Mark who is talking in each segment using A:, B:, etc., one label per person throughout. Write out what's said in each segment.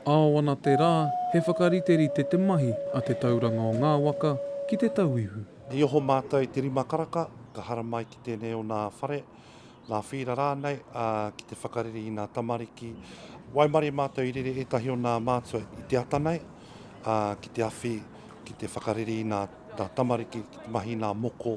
A: Ao ana te rā, he whakariterite te mahi a Te Tauranga o Ngā Waka ki te tauihu. I oho mātou i
B: te rima karaka, ka haramai ki tēnei o nā whare, nā whīra rānei, ā, ki te whakareri i nā tamariki. Waimarie mātou i rere ētahi o nā mātua i te ata nei, ā, ki te awhi, ki te whakareri i nā tamariki, ki te mahi i nā moko,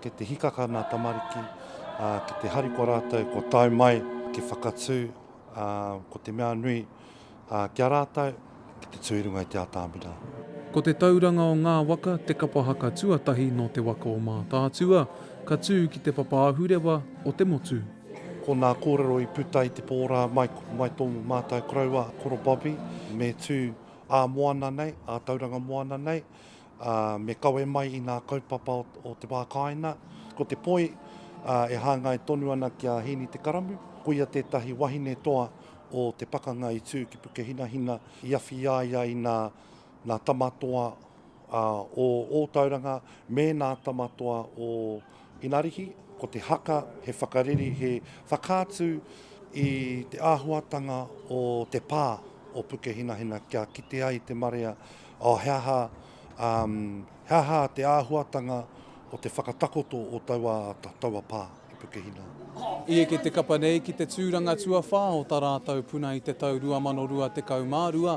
B: Kei te hikaka nā tamariki, ā, ki te harikoa rātou kua tae mai ki Whakatū, ā, ko te mea nui, ā, ki a rātou, ki te tū i runga i te atamira. Ko te tauranga
A: o ngā waka te kapa haka tuatahi nō te waka o Mātaatua, ka tū ki te papa ahurewa o te motu. Ko nā kōrero
B: i puta i te pō rā mai, mai tō mātou koroua, Koro Bobby, me tū ā-moana nei, ā-tauranga moana nei, ā, me kawe mai i ngā kaupapa o te wā kāinga. Ko te poi, ā, e hāngai tonu ana ki a Hīni Te Karamu, koia tētahi wahine toa o te pakanga i tū ki Pukehinahina i awhi i a ia i nā, nā Tamatoa, ā, o Ōtauranga me nā Tamatoa o. Inarihi, ko te haka he whakareri, he whakaatu i te āhuatanga o te pā o Pukehinahina kia kite ai te marea o he aha, um, he aha te āhuatanga o te whakatakoto o taua, taua pā i Pukehina. I eke te
A: kapa nei ki te tūranga tuawhā o tā rātou puna i te tau 2022,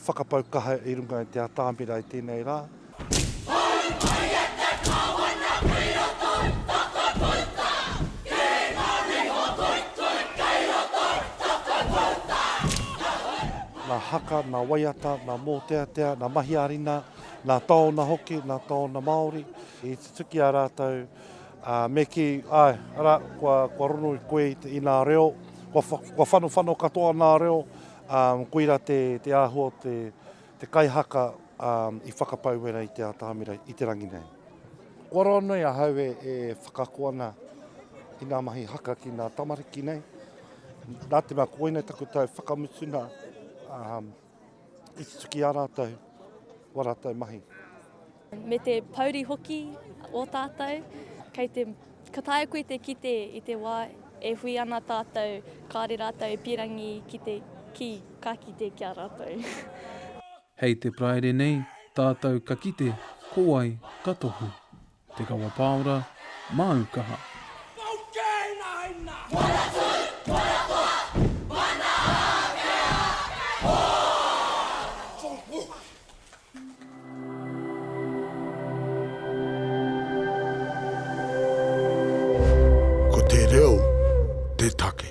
B: Whakapau kaha i runga i te atamira i tēnei rā. Whakahaeretia te Kāwana kei roto i taku puta, ki ngā niho tuitui kei roto i taku puta, nā Haeretia. Nā haka, nā waiata, nā mōteatea, nā mahi ā-rina, nā taona hoki, nā taona Māori. I tutuki a rātou, ā, me kī, āe, arā, kua, kua rongo koe i te, i nā reo, kua, kua whanowhano katoa nā reo, Koira te āhua o te kaihaka i whakapau wera i te atamira i te rangi nei. Kua roa nei ahau e whakaako ana i ngā mahi haka ki ngā tamariki nei. Nā te mea koinei taku tau whakamutuna i tutuki ā rātou, wā rātou mahi. Me
C: te pouri hoki o tātou. Kei te, ka taea koe te kite i te wā e hui ana tātou, kāore rātou e pīrangi ki te kī, ka kite ki a rātou.
A: Hei te Praere nei, tātou ka kite, ko wai ka tohu. Te Kawa Pāora, māu kaha. Ko te reo te take.